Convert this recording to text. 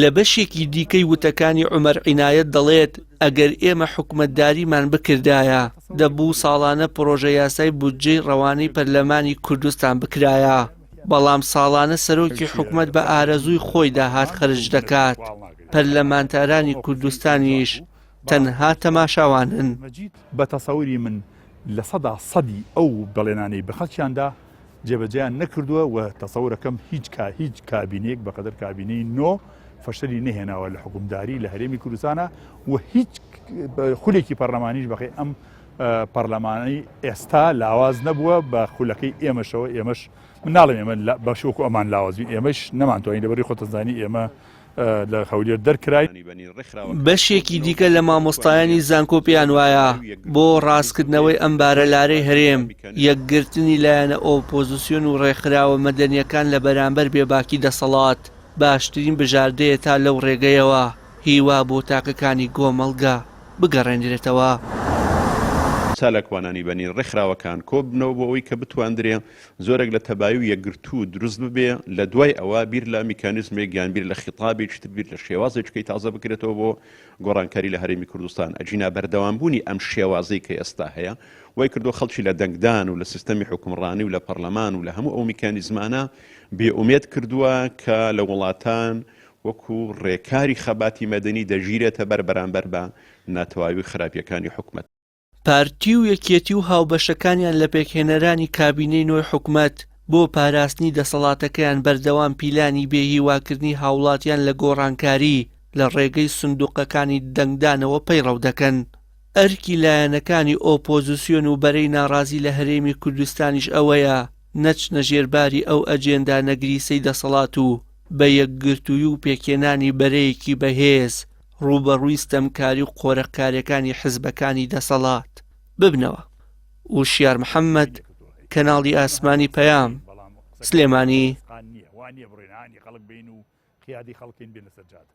لە بەشێکی دیکەی وتەکانی عمر عینایەت دەڵێت ئەگەر ئێمە حکومەتداریمان بکردایە دەبوو ساڵانە پرۆژە یاسای بودجەی ڕەوانەی پەرلەمانی کوردستان بکرایە بەڵام ساڵانە سەرۆکی حکومت بە ئارەزووی خۆی داهات خرج دەکات پەرلەمانتارانی کوردستانیش تەنها تەماشاوانن. بە تەسەوری من لە سەدا سەدی ئەو بەڵێنانەی بە خەڵکیاندا جێبەجێیان نەکردووە و تەسەورەکەم هیچ کا هیچ کابینێک بەقەدەر کابینەی نۆ فەشەری نەهێناوە لە حکومداری لە هەرێمی کوردستانە و هیچ خولێکی پەرلەمانیش بەقی ئەم پەرلەمانەی ئێستا لاواز نەبووە بە خولەکەی ئێمەشەوە ئێمەش مناڵم ئێمە بەشوەکو ئەمان لاوازین ئێمەش نەمانتوانین لەبەری خۆتەزانی ئێمە لە هەولێر دەرکرای. بەشێکی دیکە لە مامۆستایانی زانکۆ پێیان وایە بۆ ڕاستکردنەوەی ئەم بارە لارەی هەرێم یەکگرتنی لایەنە ئۆپۆزیسیۆن و ڕێکخراوە مەدەنیەکان لە بەرامبەر بێباکی دەسەڵات باشترین بژاردەیە تا لەو ڕێگەیەوە هیوا بۆ تاکەکانی گۆمەڵگە بگەڕێنرێتەوە. چالاکوانانی بەنی ڕێکخراوەکان کۆببنەوە بۆ ئەوەی کە بتواندرێ زۆرێک لە تەبایی و یەکگرتوو دروست ببێ، لە دوای ئەوە بیر لە میکانیزمێک یان بیر لە خیتابێکی تر، بیر لە شێوازێکیکەی تازە بکرێتەوە بۆ گۆڕانکاری لە هەرێمی کوردستان. ئەگینا بەردەوامبوونی ئەم شێوازەی کە ئێستا هەیە، وای کردووە خەڵکی لە دەنگدان و لە سیستەمی حوکمڕانی و لە پەڕلەمان و لە هەموو ئەو میکانیزمانە بێ ئومێد کردووە کە لە وڵاتان وەکو ڕێکاری خەباتی مەدەنی دەگیرێتە بەر بەرامبەر بە ناتەواوی و خراپییەکانی حکومەت. پارتی و یەکیەتی و هاوبەشەکانیان لە پێکهێنەرانی کابینەی نۆی حکومەت بۆ پاراستنی دەسەڵاتەکەیان بەردەوام پیلانی بێهیواکردنی هاوڵاتیان لە گۆڕانکاری لە ڕێگەی سندوقەکانی دەنگدانەوە پەیڕەو دەکەن. ئەرکی لایەنەکانی ئۆپۆزسیۆن و بەرەی ناڕازی لە هەرێمی کوردستانیش ئەوەیە نەچنە ژێر باری ئەو ئەجێندا نەگریسەی دەسەڵات و بە یەکگرتووی و پێکهێنانی بەرەیەکی بەهێز ڕووبەڕووی ستەمکاری و قۆرەخکاریەکانی حزبەکانی دەسەڵات ببنەوە وشیار محەممەد کەناڵی ئاسمانی پەیام سلێمانی قیادی خەڵکین بێ لەسەر جادە